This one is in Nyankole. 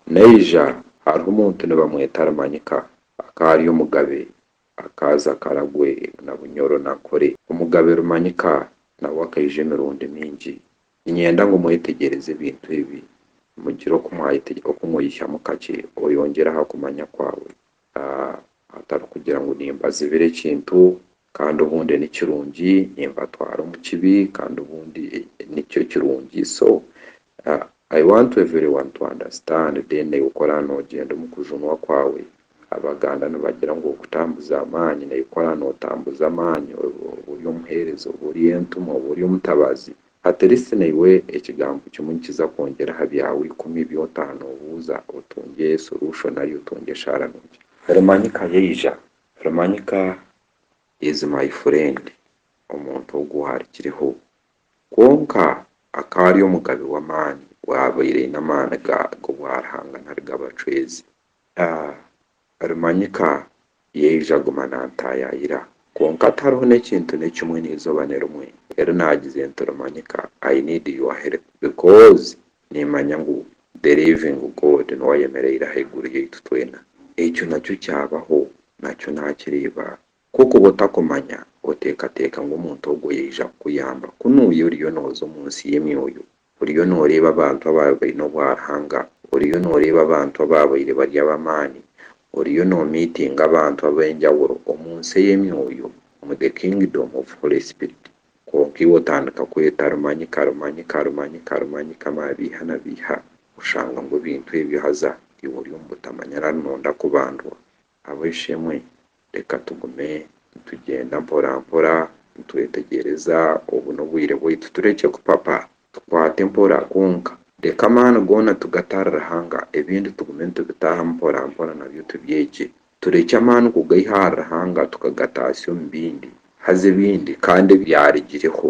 Naija hariho omuntu nibamweta Arimanyika akaari omugabe akaaza akaragwe na Bunyoro na Nkore. Omugabe Rumanyika nawe akaija emirundi mingi. Ninyenda ngu mwetegyereze ebintu ebi mugire oku mweihyamu kakye oyongyere aha kumanya kwawe, hatari kugira ngu nimbazibira ekintu Kandi obundi ni kirungi nimbatwara omu kibi kandi obundi nikyo kirungi so I want everyone to understand then naiwe ku oraba nogyenda omu kujunwa kwawe abaganda nibagira ngu okutambuza amaani naiwe ku oraba notambuza amaani oba ori omuhereza oba ori entumwa oba ori omutabazi at least naiwe ekigambo kimwe nikiza kwongyera aha byawe ikumi ebi otaha nobuuza otungye solution nari otungye eshaara nukye. Oramanyika yaija Rumanyika is my friend omuntu ogu ahari kiriho. Kwonka akaba ari omugabe w'amaani owaabaire aine amaani g'obwaruhanga nari g'abacwezi. Ah, Rumanyika yaija aguma naantaayaayira, kwonka tihariho n'ekintu n'ekimwe n'eizooba nirimwe eri naagize nti, Rumanyika, I need your help because Nimanya ngu the living God niwe ayemereire ahaiguru yaitu twena. Ekyo nakyo kyabaho, nakyo nakireeba. Ku okuba otakumanya, oteekateeka ngu omuntu ogwo yaija kukuyamba. Ku nuuya oriyo nooza omu nsi y'emyoyo, oriyo nooreeba abantu abaabaire baine obwaruhanga, oriyo nooreeba abantu abaabaire bari ab'amaani, oriyo noomiitinga abantu ab'enjawulo omu nsi ey'emyoyo, omu the kingdom of Holy Spirit. Kwonka iwe otandika kweta Rumanyi ka Rumanyi ka Rumanyi ka Rumanyi ka Mabiiha na Biiha oshanga ngu ebintu ebyo haza iwe ori omu butamanya nari noonda kubandwa. Ab'eishe-emwe, reka tugume nitugyenda mporampora nitwetegyereza obu n'obwire bwaitu turekye kupapa tukwate mpora kwonka. Reka amaani goona tugate ahari Ruhanga ebindi tugume nitubitaahamu mporampora nabyo tubyegye Turekye amaani kugaiha ahari Ruhanga tukagataatsya omu bindi, haza ebindi kandi ebyarugireho